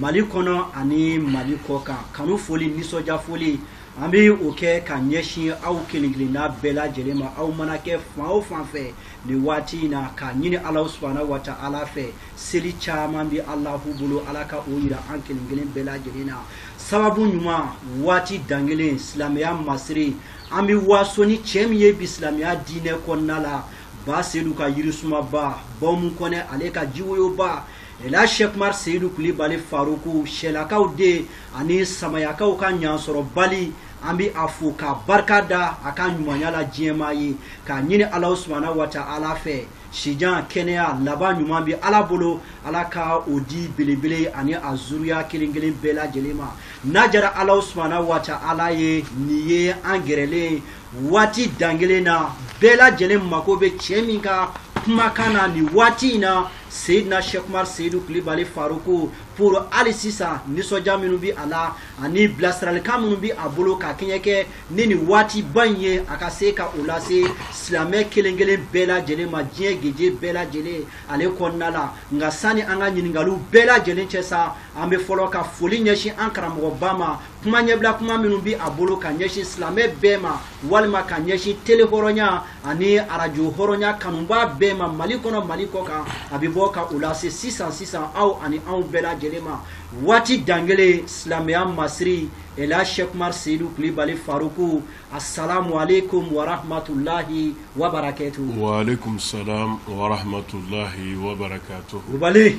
mali kɔnɔ ani mali kɔkan kanu foli nisɔndiya foli an bɛ o kɛ ka ɲɛsin aw kelen kelenna bɛɛ lajɛlen ma aw mana kɛ fan o fan fɛ nin waati in na k'a ɲini ala subahana watala fɛ seli caman bɛ alahu bolo ala ka o yira an kelen kelen bɛɛ lajɛlen na sababu ɲuman waati dangelen silamɛya masiri an bɛ waso ni cɛ min ye bi silamɛya diinɛ kɔnɔna la ba sedu ka yirisumaba ba umu kɔnɛ ale ka jiwoyoba Ela Sɛkumaru Seyidu Kulibali Faruku, Sɛlakaw den ani Samayakaw ka ɲansɔrɔbali, an bɛ a fo k'a barika da a ka ɲumanya la diɲɛmaa ye, k'a ɲini Alahu subahana watala fɛ sijan, kɛnɛya, laban ɲuman bɛ Ala bolo, Ala ka o di belebele ani a zuruya kelen kelen bɛɛ lajɛlen ma. N'a diyara Alahu subahana watala ye, nin ye an gɛrɛlen ye waati dangelen na bɛɛ lajɛlen mako bɛ cɛ min ka kumakan na nin waati in na seyidina sɛkumari seyidu kulibali faruku pour hali sisan nisɔndiya minnu bɛ a la ani bilasiralikan minnu bɛ a bolo ka kɛɲɛ kɛ ni nin waatiba in ye a ka se ka o lase silamɛ kelen kelen bɛɛ lajɛlen ma diɲɛ geje bɛɛ lajɛlen ale kɔnɔna la nka sani an ka ɲininkaliw bɛɛ lajɛlen cɛ sa an bɛ fɔlɔ ka foli ɲɛsin an karamɔgɔba ma kuma ɲɛbila kuma minnu bi a bolo ka ɲɛsin silamɛ bɛɛ ma walima ka ɲɛsin tele hɔrɔnya ani arajo hɔrɔnya kanubaa bɛɛ ma mali kɔnɔ mali kɔkan a bɛ bɔ ka u lase sisan sisan aw ani anw bɛɛ lajɛlen ma waati dangelen silamɛya masiri ela shekmar seyidu kulibali faruku assalamu alaikum warahmatulahi wabarakatu waalaikum salam warahmatulahi wabarakatu kulibali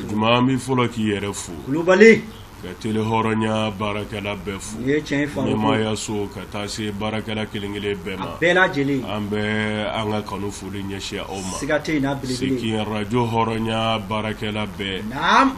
Juma n bɛ fɔlɔ k'i yɛrɛ fo kulubali ka tele hɔrɔnya baarakɛla bɛɛ fo ɲɛmaaya so ka taa se baarakɛla kelenkelen bɛɛ ma bɛɛ lajɛlen an bɛ an ka kanu foli ɲɛsin aw ma se ka arajo hɔrɔnya baarakɛla bɛɛ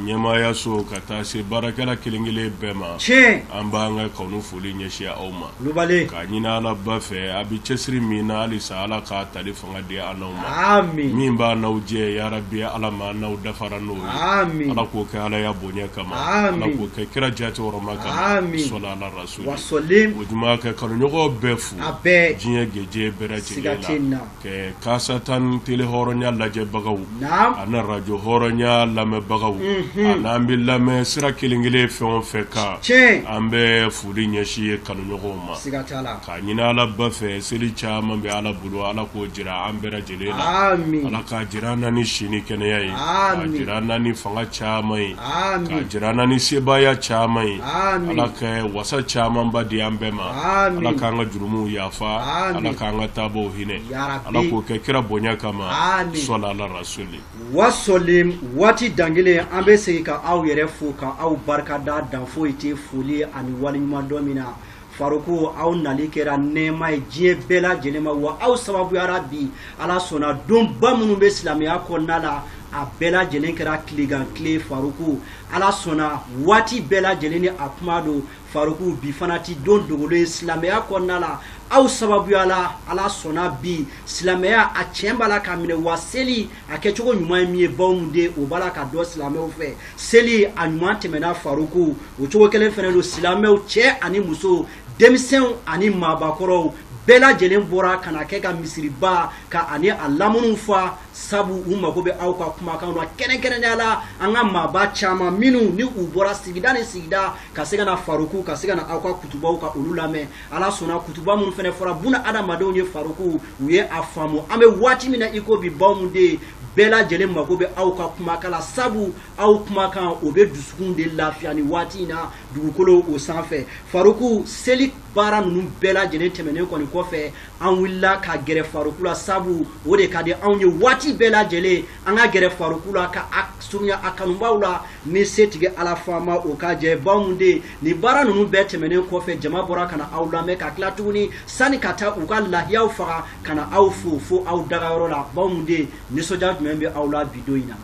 ɲɛmaaya so ka taa se baarakɛla kelenkelen bɛɛ ma tiɲɛ an b'an ka kanu foli ɲɛsin aw ma kulubali k'a ɲini alaba fɛ a bɛ cɛsiri min na halisa ala k'a tali fanga di an n'aw ma, aami, min b'an n'aw cɛ ya rabi Ala ma an n'aw dafara n'o ye, aami, Ala k'o kɛ Ala ya bonya kama, aami, Ala k'o kɛ kira jaati hɔrɔma kama, aami, sali ala rasuli, wa salim, o juma ka kanuɲɔgɔn bɛɛ fo, a bɛɛ, diɲɛ gejɛ bɛɛ lajɛlen siga t'a la, kɛ kaasatan tele hɔrɔnya lajɛbagaw, naam, ani rajo hɔrɔnya lamɛnbagaw, unhun, ani an bɛ lamɛn sira kelen-kelen fɛn o fɛn kan, tiɲɛ, an bɛ foli ɲɛsin ye kanuɲɔgɔnw ma, siga t'a la. K'a ɲinin ala ba fɛ seli caman bɛ ala bolo ala k'o jira an bɛɛ lajɛlen la ala k'a jira an na ni si ni kɛnɛya ye k'a jira an na ni fanga caman ye k'a jira an na ni sebaaya caman ye ala ka wasa camanba di an bɛɛ ma ala k'an ka jurumuw yafa ala k'an ka taabaaw hinɛ ala k'o kɛ kira bonya kama salalahu alayihi wasalamu waati dangekelen an bɛ segin ka aw yɛrɛ fo ka aw barika da dan foyi tɛ foli ani waleɲumandɔn min na faruku aw nali kɛra nɛɛma ye diɲɛ bɛɛ lajɛlen ma wa aw sababuya la bi ala sɔnna donba minnu bɛ silamɛya kɔnɔna la a bɛɛ lajɛlen kɛra tilegan tile faruku ala sɔnna waati bɛɛ lajɛlen ni a kuma don faruku bi fana ti don dogolen ye silamɛya kɔnɔna la aw sababuya la ala sɔnna bi silamɛya a tiɲɛ b'a la ka minɛ wa seli a kɛcogo ɲuman ye min ye ba umu den o b'a la ka dɔn silamɛw fɛ seli a ɲuman tɛmɛna faruku o cogo kelen fana don silamɛw cɛ ani muso denmisɛnw ani maabakɔrɔw bɛɛ lajɛlen bɔra ka na kɛ ka misiriba ka ani a lamunu fa sabu u mago bɛ aw ka kumakan na kɛrɛnkɛrɛnnenya la an ka maaba caman minnu ni u bɔra sigida ni sigida ka se ka na faruku ka se ka na aw ka kutubaw ka olu lamɛn ala sɔnna kutuba minnu fana fɔra buna adamadenw ye faruku u ye a faamu an bɛ waati min na i ko bi ba umu den bɛɛ lajɛlen mago bɛ aw ka kumakan la sabu aw kumakan o bɛ dusukun de lafiya nin waati in na dugukolo o sanfɛ faruku seli baara ninnu bɛɛ lajɛlen tɛmɛnen kɔni kɔfɛ an wulila ka gɛrɛ faruku la sabu o de ka di anw ye waati bɛɛ lajɛlen an ka gɛrɛ faruku la ka a surunya a kanubaaw la ni setigi ala faama o ka jɛ ba umu den nin baara ninnu bɛɛ tɛmɛnen kɔfɛ jama bɔra ka na aw lamɛn ka tila tuguni sani ka taa u ka lahiyaw faga ka na aw fo fo aw dagayɔrɔ la ba umu den nisɔndiya jumɛn bɛ aw la bi don in na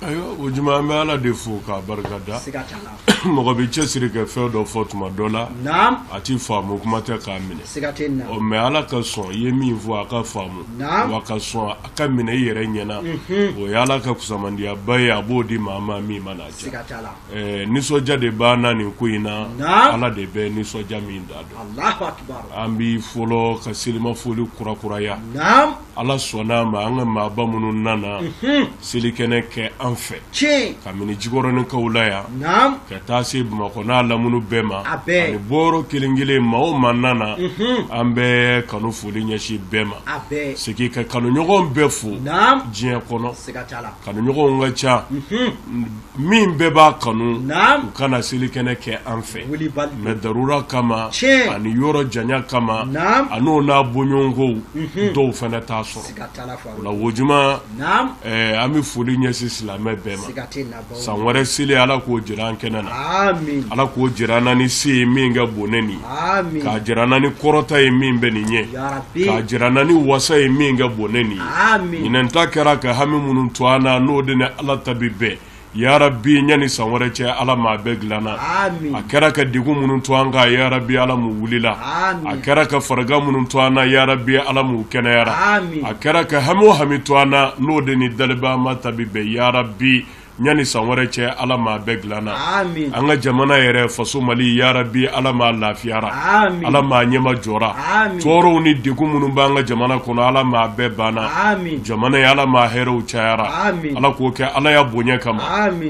ayiwa o juma an bɛ ala de fo k'a barika da siga t'a la mɔgɔ b'i cɛsiri ka fɛn dɔ fɔ tuma dɔ la a ti faamu kuma tɛ k'a minɛ mɛ ala ka sɔn i ye min fɔ a ka faamu wa ka sɔn a ka minɛ i yɛrɛ ɲɛna mhm. o ye ala ka kusamandiyaba ye a b'o di maa ma min mana cɛ nisɔndiya de b'an na nin ko in na ala de bɛ nisɔndiya min dan dɔn an bɛ fɔlɔ ka selimafoli kurakuraya Ala sɔnna a ma an ka maaba minnu nana selikɛnɛ kɛ an fɛ k'a minɛ jikɔrɔninkaw la yan ka taa se bamakɔ n'a lamini bɛɛ ma ani bɔyɔrɔ kelen kelen maa o maa nana an bɛ kanu foli ɲɛsin bɛɛ ma segin ka kanuɲɔgɔn bɛɛ fo diɲɛ kɔnɔ kanuɲɔgɔnw ka ca min bɛɛ b'a kanu u ka na selikɛnɛ kɛ an fɛ mɛ darura kama ani yɔrɔ janya kama ani o n'a bɔɲɔgɔnkow mhm. dɔw fana t'a sɔrɔ o la o juma an bɛ foli ɲɛsin silamɛ bɛɛ ma san wɛrɛ seli ala k'o jira an kɛnɛ na ala k'o jira an na ni se ye min ka bon ni nin k'a jira an na ni kɔrɔta ye min bɛ nin ɲɛ k'a jira an na ni wasa ye min ka bon ni nin ye ɲinɛn ta kɛra ka hami minnu to an na n'o de ni ala ta bi bɛn yarabi ɲani san wɛrɛ cɛ ala maa bɛɛ dilanna a kɛra ka degun minnu to an kan yarabi ala m'u wulila a kɛra ka faragan minnu to an na yarabi ala m'u kɛnɛyara a kɛra ka hami o hami to an na n'o de ni daliba maa ta bi bɛn yarabi ɲani san wɛrɛ cɛ ala maa bɛɛ dilanna an ka jamana yɛrɛ faso mali yarabi ala maa lafiyara ala maa ɲɛmajɔra tɔɔrɔw ni degun minnu b'an ka jamana kɔnɔ ala maa bɛɛ banna jamana ye ala maa hɛrɛw cayara ala k'o kɛ ala ya bonya kama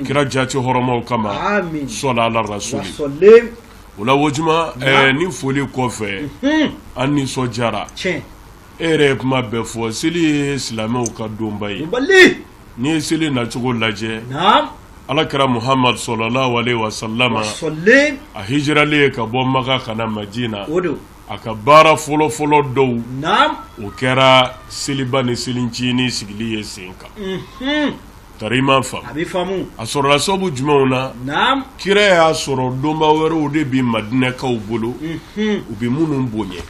kira jati hɔrɔmaw kama sɔla ala rasuli o la wojuma ni foli kɔfɛ mhm. an nisɔndiyara e yɛrɛ ye kuma bɛɛ fɔ seli ye silamɛw ka donba ye N'i ye seli nacogo lajɛ ala kira muhamadu sallallahu alaihi wasallam a hijiralen ye ka bɔ makan ka na madina a ka baara fɔlɔfɔlɔ dɔw o kɛra seliba ni selincinin sigili ye sen kan tari i m'a faamu a sɔrɔla sababu jumɛnw na kira y'a sɔrɔ donba wɛrɛw de bɛ madinɛkaw bolo u bɛ minnu bonya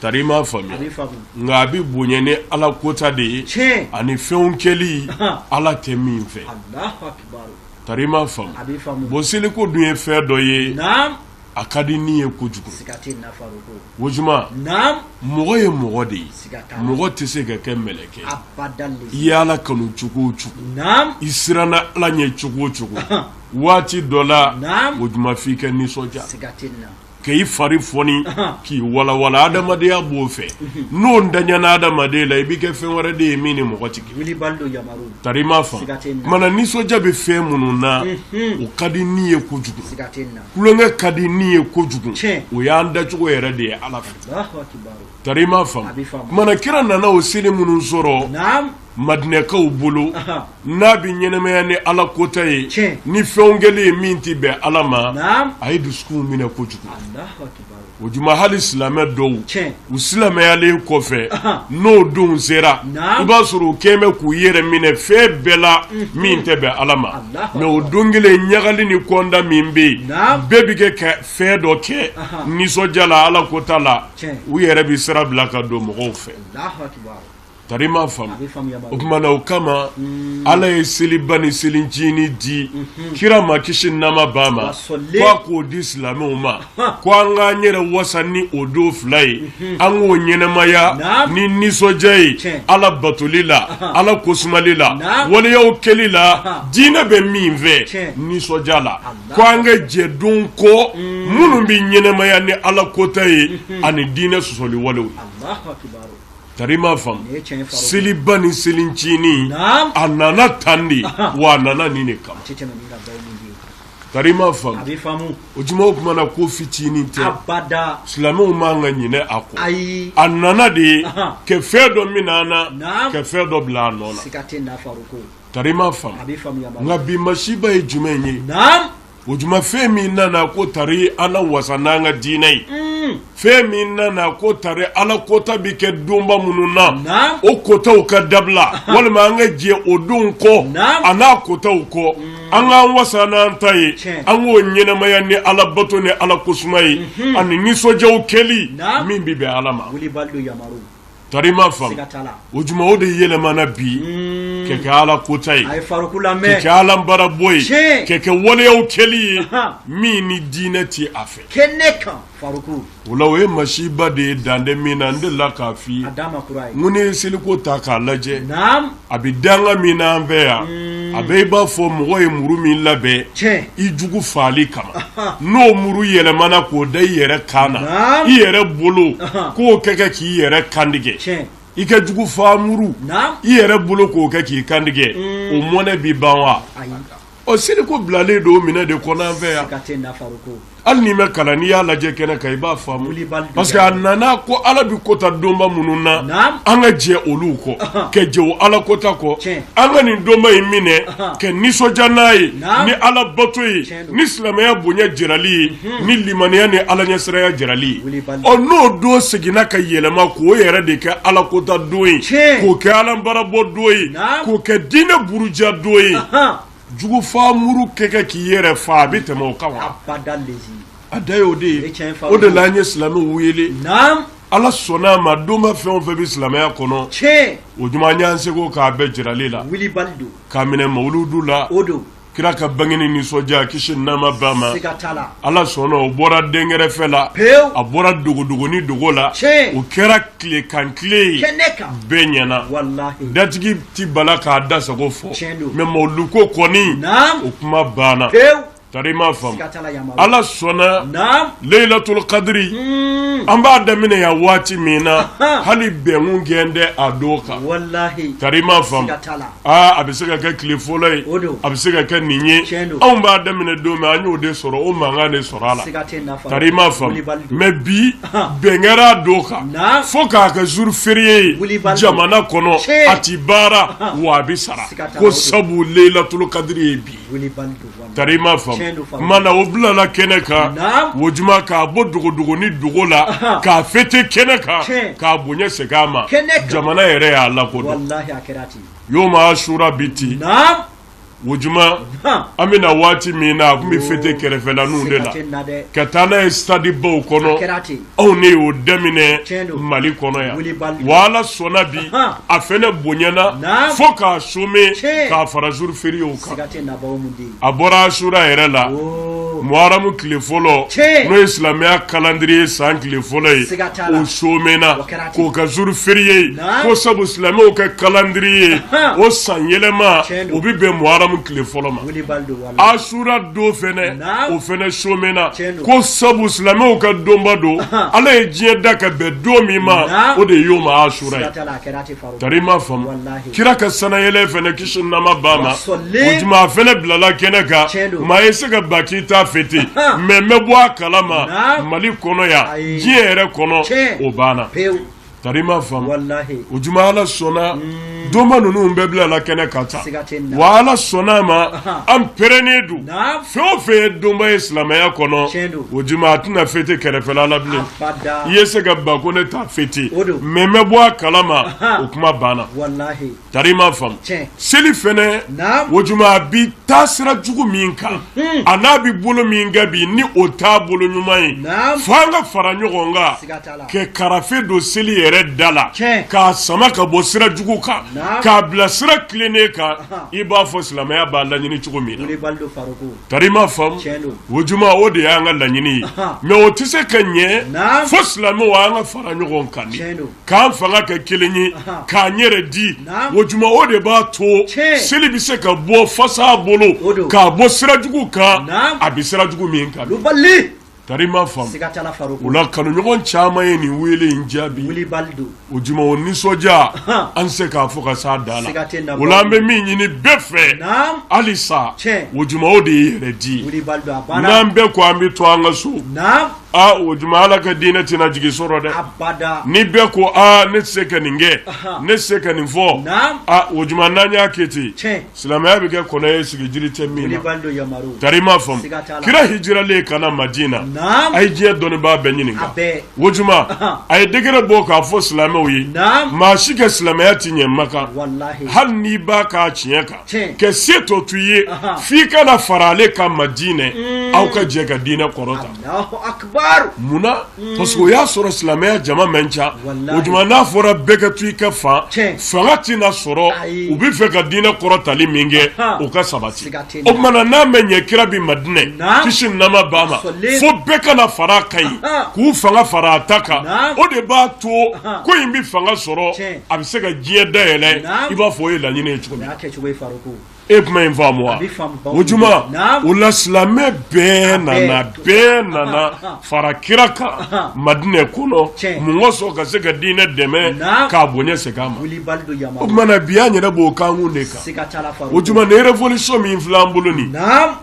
Tari i m'a faamu, a bɛ faamu, nka a bɛ bonya ni Ala kota de ye, tiɲɛ, ani fɛnw kɛli Ala tɛ min fɛ, Alahu akibaru, tari i m'a faamu, a bɛ faamu, bon seliko dun ye fɛn dɔ ye, naamu, a ka di ni ye kojugu, siga tɛ nin na Farouk, Wojuma, naamu, mɔgɔ ye mɔgɔ de ye, siga t'a la, mɔgɔ tɛ se ka kɛ mɛlɛkɛ ye, abadane, i ye Ala kanu cogo o cogo, naamu, i siranna Ala ɲɛ cogo o cogo, waati dɔ la, naamu, Wojuma f'i ka nisɔndiya, siga tɛ nin na. ka i fari fɔni k'i walawala adamadenya b'o fɛ n'o ntanyana adamaden la i bɛ kɛ fɛn wɛrɛ de ye min ni mɔgɔ tɛ kelen tari i m'a faamu kuma na nisɔndiya bɛ fɛn minnu na o ka di ni ye kojugu tulonkɛ ka di ni ye kojugu o y'an dacogo yɛrɛ de ye ala fɛ tari i m'a faamu kuma na kira nana o seli minnu sɔrɔ madinɛkaw bolo n'a bɛ ɲɛnɛmaya ni ala kota ye ni fɛnw kɛli ye min tɛ bɛn ala ma a ye dusukun minɛ kojugu wojuma hali silamɛ dɔw u silamɛyalen kɔfɛ n'o don sera i b'a sɔrɔ u kɛlen bɛ k'u yɛrɛ minɛ fɛn bɛɛ la min tɛ bɛn ala ma mɛ o don kelen ɲagali ni kɔnda min bɛ yen bɛɛ bɛ kɛ ka fɛn dɔ kɛ nisɔndiya la ala kota la u yɛrɛ bɛ sira bila ka don mɔgɔw fɛ tari m'a faamu o tuma na o kama hmm. ala ye seliba ni selicinin di mhm. kira ma kisi nɛɛma b'a ma ko a k'o di silamɛw ma ko an k'an yɛrɛ wasa ni o don fila ye mhm. an k'o ɲɛnamaya ni nisɔndiya ye ala batoli la ala kosumali la waleyaw kɛli la diinɛ bɛ min fɛ nisɔndiya la ko an ka jɛ don kɔ hmm. minnu bɛ ɲɛnamaya ni ala kota ye mhm. ani diinɛ sɔsɔli walew ye Tari m'a faamu seliba ni selicinin a nana tan de wa a nana nin de kama tari m'a faamu o tuma o tuma na ko fitinin tɛ silamɛw man ka ɲinɛ a kɔ a nana de ka fɛn dɔ minɛ an na ka fɛn dɔ bila a nɔ na tari m'a faamu nka bi masiba ye jumɛn ye O tuma fɛn min nana ko tari an na wasa n'an ka diinɛ ye fɛn min nana ko tari ala kota bɛ kɛ donba minnu na o kotaw ka dabila walima an ka jɛ o don kɔ a n'a kotaw kɔ an k'an wasa n'an ta ye an k'o ɲɛnamaya ni ala bato ni ala kosuma ye ani nisɔndiyaw kɛli min bɛ bɛn ala ma tari m'a faamu o juma o de yɛlɛmana bi kɛ kɛ ala kota ye kɛ kɛ ala barabɔ ye kɛ kɛ waleyaw kɛli ye min ni diinɛ tɛ a fɛ o la o ye masiba de ye dan tɛ min na n delila k'a fɔ i ye n ko n'i ye seliko ta k'a lajɛ a bɛ danga min na an fɛ yan a bɛ i b'a fɔ mɔgɔ ye muru min labɛn i jugu faali kama n'o muru yɛlɛmana k'o da i yɛrɛ kan na i yɛrɛ bolo k'o kɛ kɛ k'i yɛrɛ kantigɛ i ka jugu fa muru i yɛrɛ bolo k'o kɛ k'i kantigɛ o mɔnɛ bɛ ban wa Ɔ seliko bilalen don o mɔnɛ de kɔnɔ an fɛ yan hali n'i ma kalan n'i y'a lajɛ kɛnɛ kan i b'a faamu parce que a nana ko ala bɛ kota donba minnu na an ka jɛ olu kɔ ka jɛ o ala kota kɔ an ka nin donba in minɛ ka nisɔndiya n'a ye ni ala bato ye ni silamɛya bonya jirali ye ni limaniya ni ala ɲɛsiraya jirali ɔ n'o don seginna ka yɛlɛma k'o yɛrɛ de kɛ ala kota don ye k'o kɛ ala barabɔ don ye k'o kɛ diinɛ buruja don ye jugu fa muru kɛ kɛ k'i yɛrɛ fa a bɛ tɛmɛ o kan wa a da ye o de ye o de la an ye silamɛw wele ala sɔnna a ma donba fɛn o fɛn bɛ silamɛya kɔnɔ o juma an y'an seko k'a bɛɛ jirali la k'a minɛ mawuludu la kira ka bangeni nisɔndiya kisi nɛɛma b'a ma ala sɔnna o bɔra denkɛrɛfɛ la a bɔra dogodogo ni dogo la o kɛra tilekan tile ye bɛɛ ɲɛna datigi ti bala k'a da sago fɔ mɛ mawuluko kɔni o kuma banna tari ma faamu ala sɔnna leyilatulu kadiri an b'a daminɛ yan waati min na hali bɛn tun kɛlen tɛ a don kan tari ma faamu aa a bɛ se ka kɛ tile fɔlɔ ye o don a bɛ se ka kɛ nin ye Tiɲɛ don. anw b'a daminɛ don min an y'o de sɔrɔ o mankan de sɔrɔ a la Siga tɛ nafa kari i m'a faamu Wulibali don. mɛ bi Ahan. bɛn kɛra a don kan Na. fo k'a kɛ zuru feriye ye Wulibali don. jamana kɔnɔ Tiɲɛ. a ti baara Ahan. wa a bɛ sara Siga t'a la, ko o don. sabu leyilatulu kadiri ye bi ye. Wulibali don Tari ma faamu na o bilala kɛnɛ kan o tuma k'a bɔ dogodogo ni dogo la k'a fete kɛnɛ kan k'a bonya segin a ma jamana yɛrɛ y'a lakodɔn yoma asura bi ten o tuma an bɛ na waati min na a tun bɛ fete kɛrɛfɛlaninw de la ka taa n'a ye stade baw kɔnɔ anw ne y'o daminɛ mali kɔnɔ yan wa ala sɔnna bi a fɛnɛ bonyana fo k'a some k'a fara jour feriyew kan a bɔra asura yɛrɛ la muharamu tile fɔlɔ n'o ye silamɛya calendrier san tile fɔlɔ ye o somena k'o kɛ jour feriye ye ko sabu silamɛw ka calendrier o san yɛlɛma o bi bɛn muharamu tile fɔlɔ ma asura don fɛnɛ o fɛnɛ somena ko sabu silamɛw ka donba don ala ye diɲɛ da ka bɛn don min ma o de ye yoma asura ye tari ma faamu kira ka sanayɛlɛ fɛnɛ kisi nɛɛma b'a ma o tuma a fɛnɛ bilala kɛnɛ kan maa ye se ka ban k'i t'a fete mɛ n bɛ bɔ a kala ma mali kɔnɔ yan diɲɛ yɛrɛ kɔnɔ o banna Tari ma faamu o tuma ala sɔnna donba ninnu bɛɛ bilala kɛnɛ kan tan wa ala sɔnna a ma an pɛrɛnnen don fɛn o fɛn ye donba ye silamɛya kɔnɔ o tuma a tɛna fete kɛrɛfɛla la bilen i ye se ka ban ko ne t'a fete mɛ n bɛ bɔ a kala ma o kuma banna Tari m'a faamu seli fɛnɛ o tuma a bi taa sira jugu min kan a n'a bɛ bolo min kan bi ni o t'a bolo ɲuman ye fo an ka fara ɲɔgɔn kan ka karafe don seli yɛrɛ da la k'a sama ka bɔ sira jugu kan k'a bila sira tilennen kan i b'a fɔ silamɛya b'a laɲini cogo min na tari m'a faamu o tuma o de y'an ka laɲini ye mɛ o tɛ se ka ɲɛ fo silamɛw an ka fara ɲɔgɔn kan k'an fanga kɛ kelen ye k'an yɛrɛ di o juma o de b'a to seli bɛ se ka bɔ fasa bolo k'a bɔ sirajugu kan a bɛ sirajugu min kan tari i m'a faamu o la kanuɲɔgɔn caman ye nin weele in jaabi o juma o nisɔndiya an se k'a fɔ ka s'a dan na o la an bɛ min ɲini bɛɛ fɛ hali sa o juma o de ye yɛrɛ di n'an bɛɛ ko an bɛ to an ka so aa o juma Ala ka diinɛ tɛna jigi sɔrɔ dɛ, abada, ni bɛɛ ko aa ne tɛ se ka nin kɛ, anhan, ne tɛ se ka nin fɔ, naamu, aa o juma n'an y'a kɛ ten, tiɲɛ, silamɛya bɛ kɛ kɔnɔ ye sigi jiri tɛ min na, wulibali don Yamaru, tari i m'a faamu, siga t'a la, kira hijiralen ka na Madina, naamu, a ye diɲɛ dɔnnibaa bɛɛ ɲininka, a bɛɛ, o juma Ahan. a ye décret bɔ k'a fɔ silamɛw ye, naamu, maa si ka silamɛya tɛ ɲɛ Makan, walahi, hali n'i b'a k'a tiɲɛ kan ka se tɔ to ye f'i ka na fara ale kan Madinɛ aw ka jɛ ka diinɛ kɔrɔta munna parce que o y'a sɔrɔ silamɛya jama man ca o juma n'a fɔra bɛɛ ka to i ka fan fanga tɛna sɔrɔ u bɛ fɛ ka diinɛ kɔrɔtali min kɛ o ka sabati o tuma na n'a ma ɲɛ kira bɛ Madinɛ kisi ni nɛɛma b'a ma fo bɛɛ ka na fara a kan yen k'u fanga fara a ta kan o de b'a to ko in bɛ fanga sɔrɔ a bɛ se ka diɲɛ dayɛlɛ i b'a fɔ o ye laɲini ye e kuma in faamu wa o juma o la silamɛ bɛɛ nana bɛɛ nana fara kira kan Madinɛ kɔnɔ mun kosɔn ka se ka diinɛ dɛmɛ k'a bonya segin a ma o tuma na bi an yɛrɛ b'o kankun de kan o juma ni révolution min filɛ an bolo nin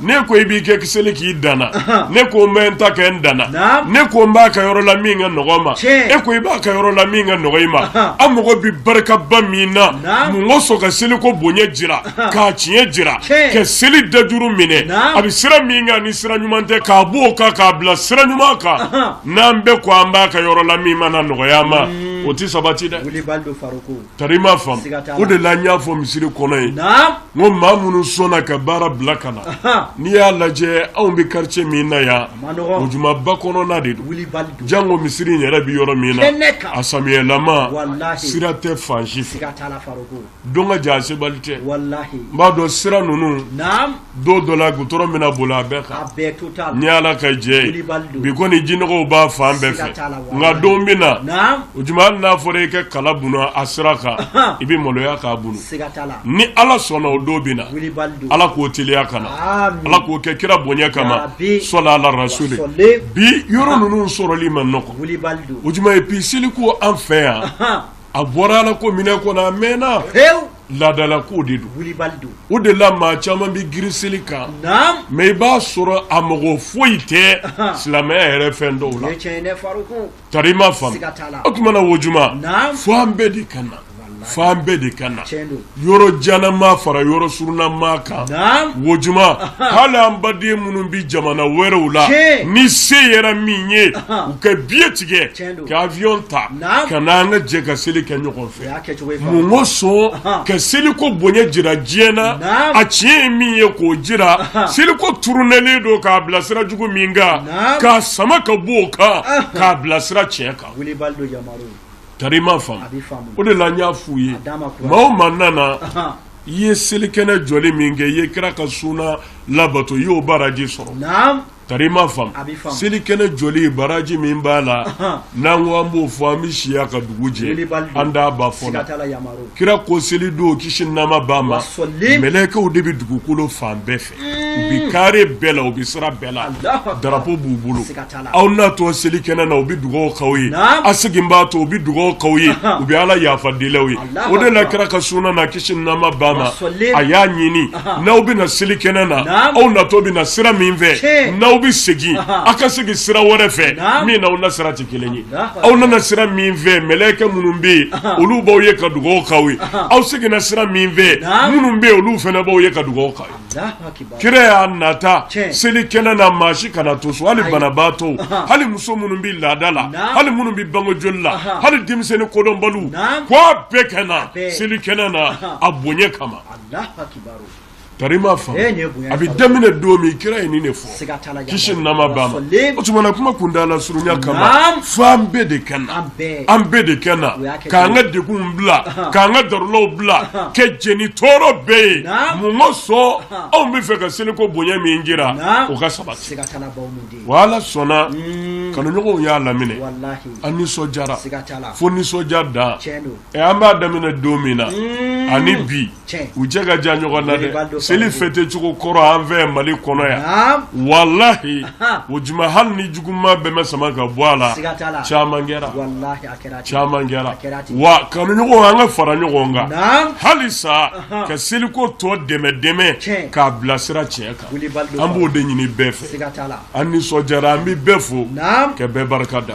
n'e ko i b'i ka seli k'i dan na, anhan, ne ko n bɛ n ta kɛ n dan na, naamu, ne ko n b'a kɛ yɔrɔ la min ka nɔgɔ n ma, tiɲɛ, e ko i b'a kɛ yɔrɔ la min ka nɔgɔ i ma, anhan, an mago bɛ barikaba min na, naamu, mun kosɔn ka seliko bonya jira, anhan, k'a tiɲɛ jira, tiɲɛ, ka seli dajuru minɛ, naamu, a bɛ sira min kan ni sira ɲuman tɛ k'a bɔ o kan k'a bila sira ɲuman kan, anhan, n'an bɛɛ ko an b'a kɛ yɔrɔ la min mana nɔgɔya an ma, o tɛ sabati dɛ. Wulibali don Farouk. Tari i m'a faamu, siga t'a la, o de la n y'a fɔ misiri kɔnɔ yen, naamu, n ko maa minnu sɔnna ka baara bila ka na, anhan, n'i y'a lajɛ anw bɛ quartier min na yan, a man dɔgɔ, o juma ba kɔnɔna de don, wulibali don, jango misiri in yɛrɛ bɛ yɔrɔ min na, kɛnɛ kan, a samiyɛlama, walahi, sira tɛ fan si fɛ, siga t'a la Farouk, don ka jan a sebali tɛ, walahi, n b'a dɔn sira ninnu, naamu don dɔ la goudron bɛna boli a bɛɛ kan, a bɛɛ total ni Ala ka jɛ ye, wulibali don, bi kɔni jinɔgɔw b'a fan bɛɛ fɛ, siga t'a la, walahi, nka don bɛ na, naamu, o juma hali n'a fɔra i ka kala bunu a sira kan, anhan, i bɛ maloya k'a bunu, siga t'a la, ni Ala sɔnna o don bɛ na, wulibali don, Ala k'o teliya ka na, amin, Ala k'o kɛ kira bonya kama, yarabi, sɔli Ala rasuli, wasɔli, bi yɔrɔ Anhan. ninnu sɔrɔli man nɔgɔn, wulibali don, o juma et puis seliko an fɛ yan, anhan, a bɔra Ala ko minɛ kɔnɔ a mɛnna, hewu. Laadala ko de don, wilibali don, o de la maa caman bɛ girin seli kan, naamu, mais i b'a sɔrɔ a mɔgɔ foyi tɛ silamɛya yɛrɛ fɛn dɔw la, o ye tiɲɛ ye dɛ Farukun, tari i m'a faamu, siga t'a la, o tuma na o juma, naamu, fo an bɛɛ de ka na, walahi, fo an bɛɛ de ka na, tiɲɛ don, yɔrɔ janna maa fara yɔrɔ surunna maa kan, naamu, o juma, hali an baden minnu bɛ jamana wɛrɛw la, tiɲɛ, ni se yera min ye, u ka billet tigɛ, tiɲɛ don, ka avion ta, naamu, ka na an ka jɛ ka seli kɛ ɲɔgɔn fɛ. Mun kosɔn ka seliko bonya jira diɲɛ na a tiɲɛ ye min ye k'o jira seliko turunɛlen don k'a bila sira jugu min kan k'a sama ka bɔ o kan k'a bila sira tiɲɛ kan tari i m'a faamu o de la n y'a f'u ye maa o maa nana i ye selikɛnɛ jɔli min kɛ i ye kira ka sunna labato i y'o baraji sɔrɔ Tari i m'a faamu seli kɛnɛ jɔli baraji min b'a la n'an ko an b'o fɔ an bɛ si yan ka dugu jɛ an t'a ban fɔ la kira ko seli don kisi nɛɛma b'a ma mɛlɛkɛw de bɛ dugukolo fan bɛɛ fɛ u bɛ kare bɛɛ la u bɛ sira bɛɛ la darapo b'u bolo aw natɔ seli kɛnɛ na u bɛ dugawu k'aw ye a seginbaatɔ u bɛ dugawu k'aw ye u bɛ ala yafa del'aw ye o de la kira ka sunna na kisi nɛɛma b'a ma a y'a ɲini n'aw bɛ na seli kɛnɛ na aw natɔ bɛ na sira min fɛ n'aw bɛ segin aw ka segin sira wɛrɛ fɛ min n'aw nasira tɛ kelen ye aw nana sira min fɛ mɛlɛkɛ minnu bɛ yen olu b'aw ye ka dugawu k'aw ye aw seginna sira min fɛ minnu bɛ yen olu fana b'aw ye ka dugawu k'aw ye kira y'a nata seli kɛnɛ na maa si kana to so hali banabaatɔ hali muso minnu bɛ laada la hali minnu bɛ bange joli la hali denmisɛnnin kodɔnbaliw ko a bɛɛ ka na seli kɛnɛ na a bonya kama tari m'a faamu a bɛ daminɛ don min kira ye nin de fɔ Kisi nɛɛma b'a ma o tuma na kuma kuntaala surunya kama fo an bɛɛ de ka na an bɛɛ de ka na k'an ka degun bila k'an ka darulaw bila ka jɛn ni tɔɔrɔ bɛɛ ye mun kosɔn anw bɛ fɛ ka seliko bonya min jira o ka sabati wa ala sɔnna kanuɲɔgɔnw y'a laminɛ an nisɔndiyara fo nisɔndiya dan ɛ an b'a daminɛ don min na ani bi u cɛ ka jan ɲɔgɔn na dɛ seli fɛtɛ cogo kɔrɔ an fɛ mali kɔnɔ yan walahi o juma hali ni juguman bɛɛ ma sama ka bɔ a la caman kɛra caman kɛra wa kanuɲɔgɔn an ka fara ɲɔgɔn kan halisa ka seliko tɔ dɛmɛ dɛmɛ k'a bilasira tiɲɛ kan an b'o de ɲini bɛɛ fɛ an nisɔndiyara an bɛ bɛɛ fo ka bɛɛ barika da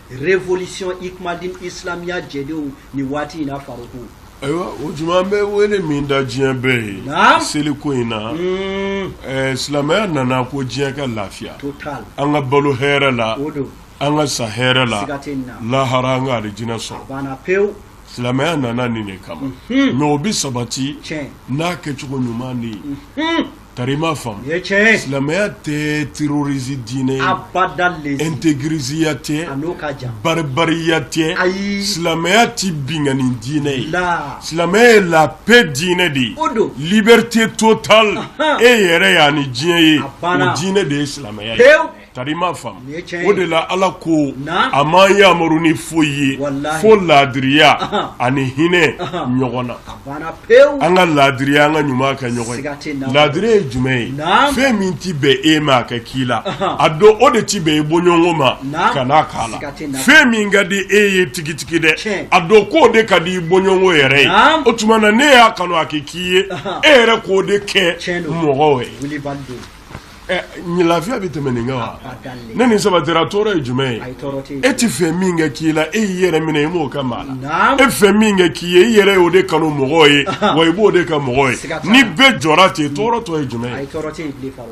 révolution ikumadin islamiya jɛdenw ni waati in na Faruku ayiwa o tuma an bɛ wele min da diɲɛ bɛɛ ye Naam. seliko in na Mm, ɛɛ, silamɛya nana ko diɲɛ ka lafiya total an ka balo hɛrɛ la o don an ka sa hɛrɛ la siga tɛ nin na lahara an ka alijinɛ sɔrɔ banna pewu silamɛya nana nin de kama mɛ o bɛ sabati tiɲɛ n'a kɛcogo ɲuman de ye Tari i m'a faamu silamɛya tɛ terroriste diinɛ ye abada intégrisiya tɛ barbariya tɛ ayi silamɛya tɛ binkanni diinɛ ye la silamɛya ye la paix diinɛ de ye o don liberté totale e yɛrɛ ye ani diɲɛ ye o diinɛ de ye silamɛya ye Tari i m'a faamu o de la ala ko a m'an yamaru ni foyi ye fo laadiriya ani hinɛ ɲɔgɔn na an ka laadiriya an ka ɲuman kɛ ɲɔgɔn laadiriya ye jumɛn ye fɛn min tɛ bɛn e ma a ka k'i la a dɔn o de tɛ bɛn e bɔɲɔgɔnko ma kan'a k'a la fɛn min ka di e ye tigitigi dɛ a dɔn ko o de ka di i bɔɲɔgɔnko yɛrɛ ye o tuma na n'e y'a kanu a ka k'i ye e yɛrɛ k'o de kɛ mɔgɔw ye lafiya bɛ tɛmɛ nin kan wa ni nin sabatira tɔɔrɔ ye jumɛn ye e t'a fɛ min ka k'i la e y'i yɛrɛ minɛ i m'o kɛ maa la e fɛ min ka k'i ye i yɛrɛ y'o de kanu mɔgɔ ye wa i b'o de kɛ mɔgɔ ye ni bɛɛ jɔra ten tɔɔrɔ tɔ ye jumɛn ye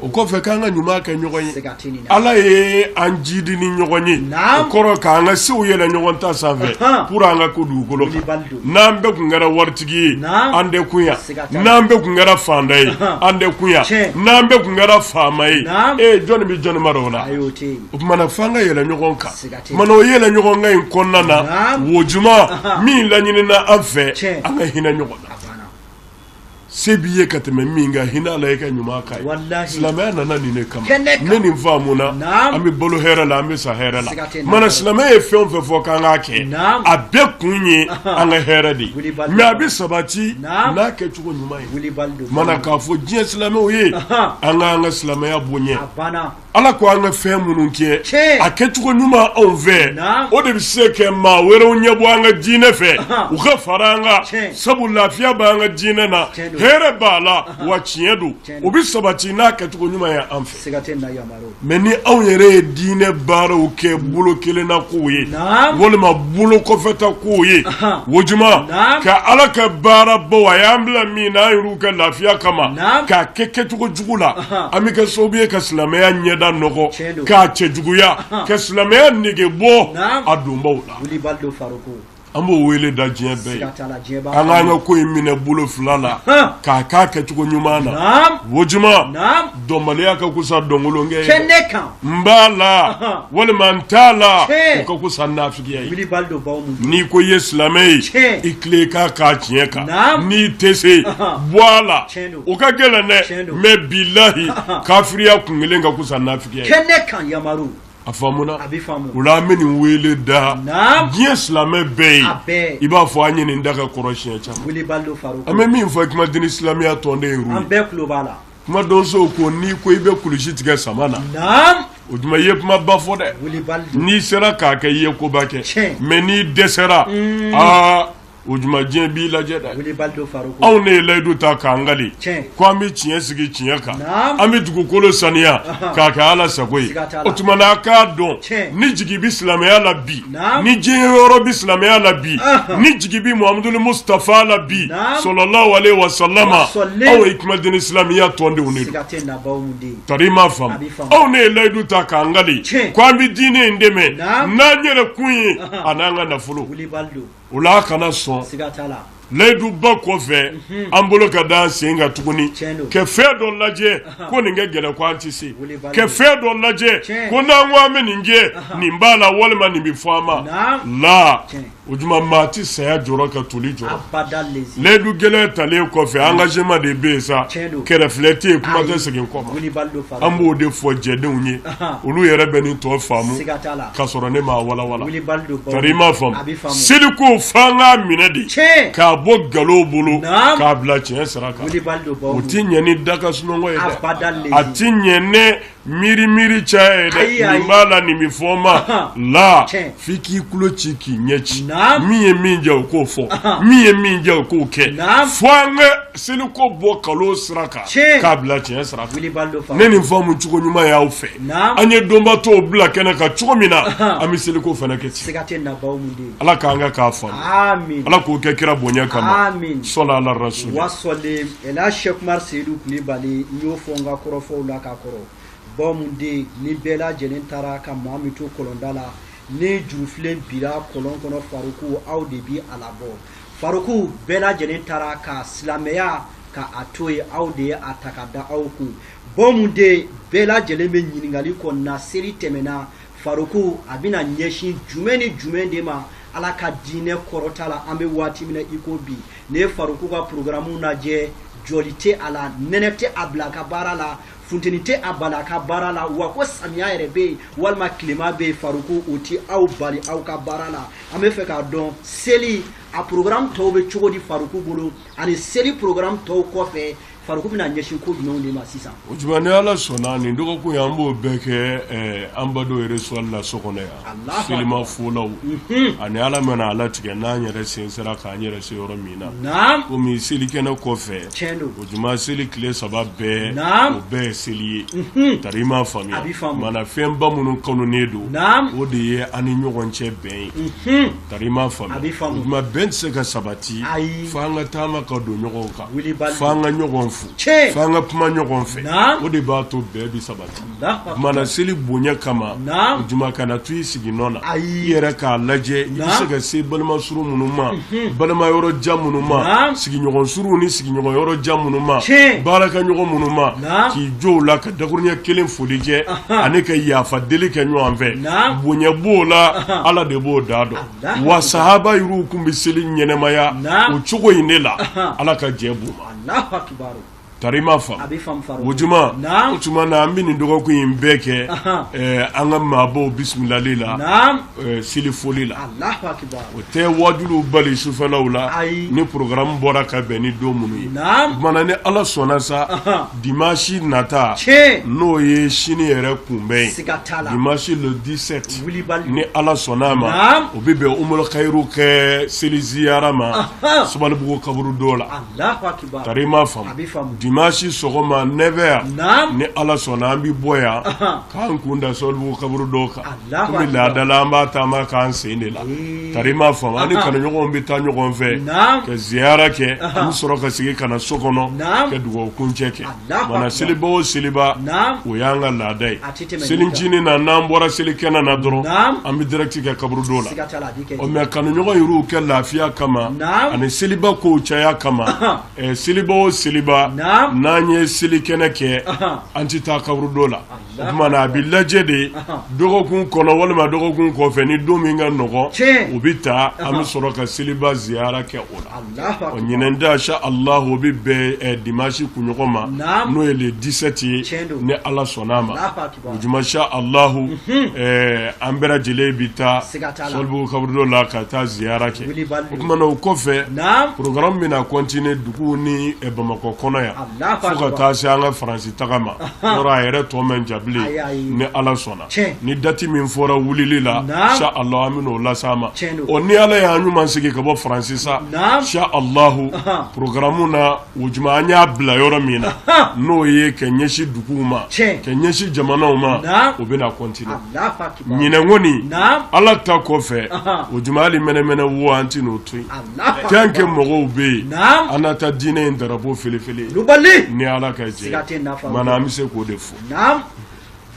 o kɔfɛ k'an ka ɲuman kɛ ɲɔgɔn ye ala ye an jidi ni ɲɔgɔn ye o kɔrɔ k'an ka sew yɛlɛ ɲɔgɔn ta sanfɛ pour an ka kun dugukolo n'an bɛɛ tun kɛra waritigi ye an tɛ kun yan n'an bɛɛ tun kɛra faanta ye an tɛ kun yan, tiɲɛ, n'an bɛɛ tun kɛra faama ye, naamu, ee jɔn bɛ jɔn mara o la, ayi o tɛ yen, mana f'an ka yɛlɛ ɲɔgɔn kan, siga tɛ yen. mana o yɛlɛ ɲɔgɔn kan in kɔnɔna na Naamu. o tuma Ahan. min laɲinina an fɛ Tiɲɛ. an ka hinɛ ɲɔgɔn na a banna, se b'i ye ka tɛmɛ min kan hinɛ a la i ka ɲuman k'a ye Walahi. silamɛya nana nin de kama Kɛnɛ kan. ni nin faamuna Naamu. an bɛ balo hɛrɛ la an bɛ sa hɛrɛ la Siga tɛ yen. mana silamɛya ye fɛn o fɛn fɔ k'an k'a kɛ Naamu. a bɛɛ kun ye Ahan. an ka hɛrɛ de ye mɛ a bɛ sabati n'a kɛcogo ɲuman ye mana k'a fɔ diɲɛ silamɛw ye an ka an ka silamɛya bonya ala ko an ka fɛn minnu kɛ a kɛcogo ɲuman anw fɛ o de bɛ se ka maa wɛrɛw ɲɛ bɔ an ka diinɛ fɛ u ka fara an kan sabu lafiya bɛ an ka diinɛ na hɛrɛ b'a la wa tiɲɛ don o bɛ sabati n'a kɛcogo ɲuman ye an fɛ Mɛ ni anw yɛrɛ ye diinɛ baaraw kɛ bolo kelen na ko ye walima bolo kɔfɛta ko ye o tuma ka ala ka baarabaw a y'an bila min na an yɛrɛw ka lafiya kama k'a kɛ kɛcogo jugu la an bɛ kɛ sabu ye ka silamɛya ɲɛda nɔgɔ k'a cɛjuguya ka silamɛya nege bɔ a donbaw la An b'o wele da diɲɛ bɛɛ ye an k'an ka ko in minɛ bolo fila la k'a k'a kɛcogo ɲuman na o tuma dɔnbaliya ka kusa dɔnkolonkɛ ye n b'a la walima n t'a la ka kusa nafigiya n'i ko i ye silamɛ ye i tila ka k'a tiɲɛ kan n'i tɛ se bɔ a la o ka gɛlɛn dɛ mɛ bilayi kafiriya kun kelen ka kusa nafigiya a faamuna a bɛ faamu o la an bɛ nin wele da Naam. diɲɛ silamɛ bɛɛ ye A bɛɛ. i b'a fɔ an ye nin da ka kɔrɔ siɲɛ caman wilibali don Faruku an bɛ min fɔ Ikmal dini silamɛya tɔndenw ye an bɛɛ tulo b'a la kuma donsow ko n'i ko i bɛ kulusi tigɛ sama na naam o tuma i ye kuma ba fɔ dɛ wilibali don n'i sera k'a kɛ i ye koba kɛ Tiɲɛ. mɛ n'i dɛsɛra aa o tuma diɲɛ b'i lajɛ dɛ anw ne ye layidu ta k'an kali ko an bɛ tiɲɛ sigi tiɲɛ kan an bɛ dugukolo saniya k'a kɛ ala sago ye o tuma na k'a dɔn ni jigi bɛ silamɛya la bi ni jɔyɔrɔ bɛ silamɛya la bi ni jigi bɛ muhamaduli musutafa la bi salalahu alehi wasalama aw Ikmal dini silamɛya tɔndenw de don tari i m'a faamu anw ne ye layidu ta k'an kali ko an bɛ diinɛ in dɛmɛ n'an yɛrɛ kun ye a n'an ka nafolo o la a kana sɔn layiduba kɔfɛ an bolo ka da sen kan tuguni ka fɛn dɔ lajɛ ko nin ka gɛlɛn ko an tɛ se ka fɛn dɔ lajɛ ko n'an ko an bɛ nin kɛ nin b'a la walima nin bɛ fɔ an ma la o tuma maa tɛ saya jɔrɔ ka toli jɔrɔ layidu gɛlɛn talen kɔfɛ angajeman de bɛ yen sa kɛrɛ filɛ tɛ yen kuma tɛ segin kɔ An b'o de fɔ jɛdenw ye olu yɛrɛ bɛ nin tɔ faamu ka sɔrɔ ne m'a walanwalan tari i m'a faamu seliko fo an k'a minɛ de k'a bɔ nkalon bolo k'a bila tiɲɛ sira kan o tɛ ɲɛ ni da ka sunɔgɔ ye dɛ a tɛ ɲɛ ni miiri miiri caya ye dɛ nin b'a la nin bɛ fɔ n ma la f'i k'i tulo ci k'i ɲɛ ci min ye min diya o k'o fɔ min ye min diya o k'o kɛ fo an ka seliko bɔ nkalon sira kan k'a bila tiɲɛ sira kan ne nin faamucogo ɲuman y'aw fɛ an ye donba tɔw bila kɛnɛ kan cogo min na an bɛ seliko fana kɛ ten ala k'an ka k'a faamu ala k'o kɛ kira bonya kama sali ala rasuli wasalimu ale sɛki umaru seyidu kulibali n y'o fɔ n ka kɔrɔfɔw la ka kɔrɔ baw mun den ni bɛɛ lajɛlen taara ka maa min to kɔlɔnda la ni jurufilen bira kɔlɔn kɔnɔ faruku aw de bi a labɔ Faruku bɛɛ lajɛlen taara ka silamɛya ka a to yen aw de ye a ta ka da aw kun bɔn de bɛɛ lajɛlen bɛ ɲininkali kɔ na seli tɛmɛna faruku a bɛna ɲɛsin jumɛn ni jumɛn de ma ala ka diinɛ kɔrɔta la an bɛ waati min na iko bi ne ye faruku ka porogaramu lajɛ jɔli tɛ a la nɛnɛ tɛ a bila a ka baara la funteni tɛ a bali a ka baara la wa ko samiya yɛrɛ bɛ yen walima tilema bɛ yen faruku o tɛ aw bali aw ka baara la an bɛ fɛ k'a dɔn seli a programme tɔw bɛ cogo di faruku bolo ani seli programme tɔw kɔfɛ faruku bɛna ɲɛsin ko jumɛnw de ma sisan. o juma ni ala sɔnna nin dɔgɔkun in an b'o bɛɛ kɛ ɛɛ an badenw yɛrɛ suwali la so kɔnɔ yan. selimafolaw ani ala mana a latigɛ n'an yɛrɛ sen sera k'an yɛrɛ se yɔrɔ min na komi selikɛnɛ kɔfɛ o juma seli tile saba bɛɛ o bɛɛ ye seli ye mhm. tari i m'a faamuya mana fɛnba minnu kanunen don o de ye an ni ɲɔgɔn cɛ bɛn ye mhm. tari i m'a faamuya o juma bɛn tɛ se ka sabati fo an ka taama ka don ɲɔgɔn kan fo an ka ɲɔgɔn fo fo an ka kuma ɲɔgɔn fɛ o de b'a to bɛn bɛ sabati mana seli bonya kama juma kana to i sigi nɔ na i yɛrɛ k'a lajɛ i bɛ se ka se balima surun minnu ma mhm. balima yɔrɔ jan minnu ma sigiɲɔgɔn surunw ni sigiɲɔgɔn yɔrɔ jan minnu ma baarakɛɲɔgɔn minnu ma k'i jɔ u la ka dakurunya kelen foli kɛ ani ka yafa deli kɛ ɲɔgɔn fɛ bonya b'o la ala de b'o da dɔn wa sahaba yɛrɛw tun bɛ seli ɲɛnamaya o cogo in de la ala ka jɛn b'u ma tari i m'a faamu o juma o tuma na an bɛ nin dɔgɔkun in bɛɛ kɛ an ka maabaw bisimilali la seli foli la o tɛ waajuliw bali sufɛlaw la ni programme bɔra ka bɛn ni don minnu ye mana ni ala sɔnna sa dimansi nata n'o ye sini yɛrɛ kunbɛn ye dimansi le 17 ni ala sɔnna a ma o bɛ bɛn umul kayiru ka seli ziyara ma sabalibugu kaburudo la dimansi sɔgɔma 9 heures ni ala sɔnna an bɛ bɔ yan k'an kun da sabalibugu kaburudo kan komi laada la an b'a taama k'an sen de la tari i m'a faamu an ni kanuɲɔgɔnw bɛ taa ɲɔgɔn fɛ ka ziyara kɛ an bɛ sɔrɔ ka segin ka na so kɔnɔ ka dugawu kuncɛ kɛ mana seliba o seliba o y'an ka laada ye selincinin na n'an bɔra selikɛnɛ na dɔrɔn an bɛ direct kɛ kaburudo la ɔ mɛ kanuɲɔgɔn yɛrɛw ka lafiya kama ani seliba kow caya kama seliba o seliba n'an ye selikɛnɛ kɛ an tɛ taa kaburudo la tuma na a bɛ lajɛ de dɔgɔkun kɔnɔ walima dɔgɔkun kɔfɛ ni don min ka nɔgɔn o bɛ ta an bɛ sɔrɔ ka seliba ziyara kɛ o la ɔ ɲinan ta sha alahu o bɛ bɛn eh, dimansi kunɲɔgɔn ma n'o ye le 17 ye ni ala sɔnn'a ma o juma sha alahu mhm. eh, an bɛɛ lajɛlen bɛ taa sabalibugu kaburudo la ka taa ziyara kɛ o tuma na o kɔfɛ programme bɛna continuer duguw ni eh, bamakɔ kɔnɔ yan fo ka taa se an ka faransi tagama yɔrɔ a yɛrɛ tɔ man jan bilen ni ala sɔnna ni dati min fɔra wulili la insa alahu an bɛn'o las'aw ma ɔ ni ala y'an ɲuman segin ka bɔ faransi sa insa alahu porogaramu na o juma an y'a bila yɔrɔ min na n'o ye ka ɲɛsin duguw ma ka ɲɛsin jamanaw ma o bɛna kɔntine ɲinan kɔni ala ta kɔfɛ o juma hali mɛnɛmɛnɛ wo an tɛn'o to yen Tant que mɔgɔw bɛ yen, naamu, an na taa diinɛ in drapeau fɛlɛfɛlɛ, wulibali, ni Ala ka jɛn ye, siga tɛ nin na, o tuma na an bɛ se k'o de fɔ, naamu,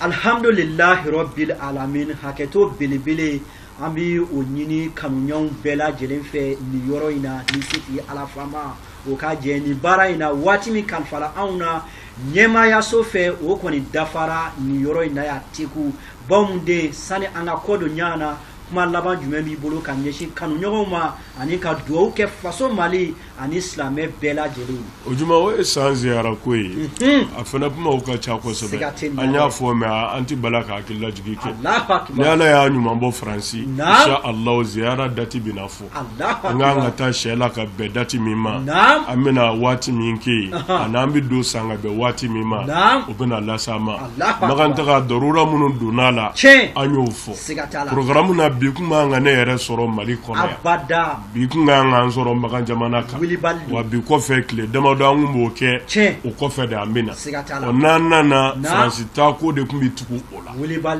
alihamidulilahi rabili alamina hakɛto belebele an bɛ o ɲini kanuɲɔgɔnw bɛɛ lajɛlen fɛ nin yɔrɔ in na ni setigi Ala faama o ka jɛn nin baara in na waati min kalifara anw na ɲɛmaayaso fɛ o kɔni dafara nin yɔrɔ in na yan teku bawo mun den sani an ka kɔ don ɲɔgɔn na kuma laban jumɛn b'i bolo ka ɲɛsin kanuɲɔgɔnw ma ani ka dugawu kɛ faso mali ani silamɛ bɛɛ lajɛlen o juma o ye san ziyara ko ye mhm. a fana kumaw ka ca kosɛbɛ an y'a fɔ mɛ an tɛ bala ka hakililajigi kɛ ni ala y'an ɲuman bɔ faransi insha allah ziyara dati bɛna fɔ An kan ka taa sɛla ka bɛn dati min ma an bɛna waati min kɛ yen ani an bɛ don san ka bɛn waati min ma o bɛna las'aw ma makan taga darura minnu donna a la an y'o fɔ porogaramu na bi kun man kan ka ne yɛrɛ sɔrɔ mali kɔnɔ yan bi kun ka kan k'an sɔrɔ makan jamana kan wa bi kɔfɛ tile damadɔ an kun b'o kɛ o kɔfɛ de an bɛ na n'an nana faransi taa ko de kun bɛ tugu o la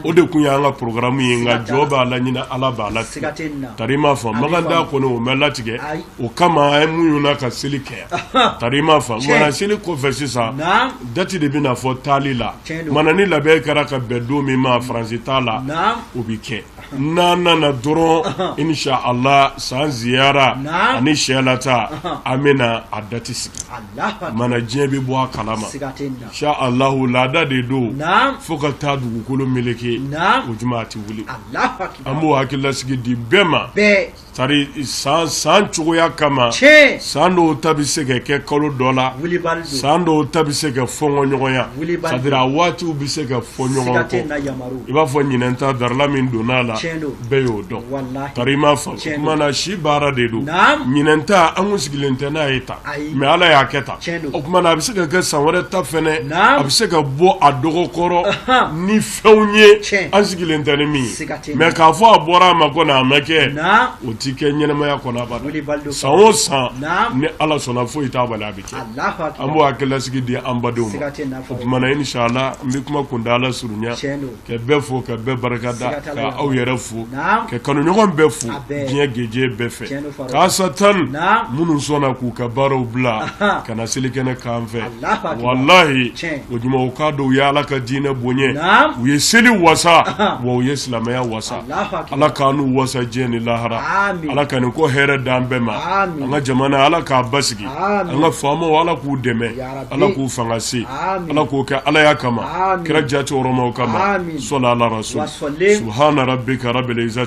o de kun y'an ka porogaramu ye nka jɔn b'a laɲini ala b'a latigɛ tari m'a fɔ makan ta kɔni o ma latigɛ o kama an muɲuna ka seli kɛ yan tari m'a fɔ mana seli kɔfɛ sisan dati de bɛna fɔ taali la mana ni labɛn kɛra ka bɛn don min ma faransi taa la o bɛ kɛ n'an nana dɔrɔn insa ala san ziyara ani sɛla taa an bɛna a dati sigi mana diɲɛ bɛ bɔ a kalama insa ala laada de don fo ka taa dugukolo meleke o tuma a tɛ wuli an b'o hakililasigi di bɛɛ ma Tari san cogoya kama san dɔw ta bɛ se ka kɛ kalo dɔ la san dɔw ta bɛ se ka fɔɔn ɲɔgɔnya a waatiw bɛ se ka fɔ ɲɔgɔn kɔ i b'a fɔ ɲinan ta darura min donna a la bɛɛ y'o dɔn tari m'a fɔ si baara de don ɲinan ta an kun sigilen tɛ n'a ye tan mɛ ala y'a kɛ tan o a bɛ se ka kɛ san wɛrɛ ta fana a bɛ se ka bɔ a dɔgɔ kɔrɔ fɛnw ye an sigilen tɛ ni min ye mɛ k'a fɔ a bɔra a ma ko n'a ma kɛ o tɛ kɛ ɲɛnamaya kɔnɔ abada san o san ni ala sɔnna foyi t'a bali a bɛ kɛ an b'o hakililasigi di an badenw ma o tuma na insala n bɛ kuma kuntaala surunya ka bɛɛ fo ka bɛɛ barika da ka aw yɛrɛ fo ka kanuɲɔgɔn bɛɛ fo diɲɛ gajɛ bɛɛ fɛ tan minnu sɔnna k'u ka baaraw bila ka na selikɛnɛ kan fɛ walayi o jama k'a dɔn u ye ala ka diinɛ bonya u ye seli wasa wa u ye silamɛya wasa ala k'an n'u wasa diɲɛ ni lahara ala ka nin ko hɛrɛ d'an bɛɛ ma an ka jamana ala k'a basigi an ka faamaw ala k'u dɛmɛ ala k'u fanga se ala k'o kɛ alaya kama kira jama kama sɔla ala rasul subhana rabbika rabbil izza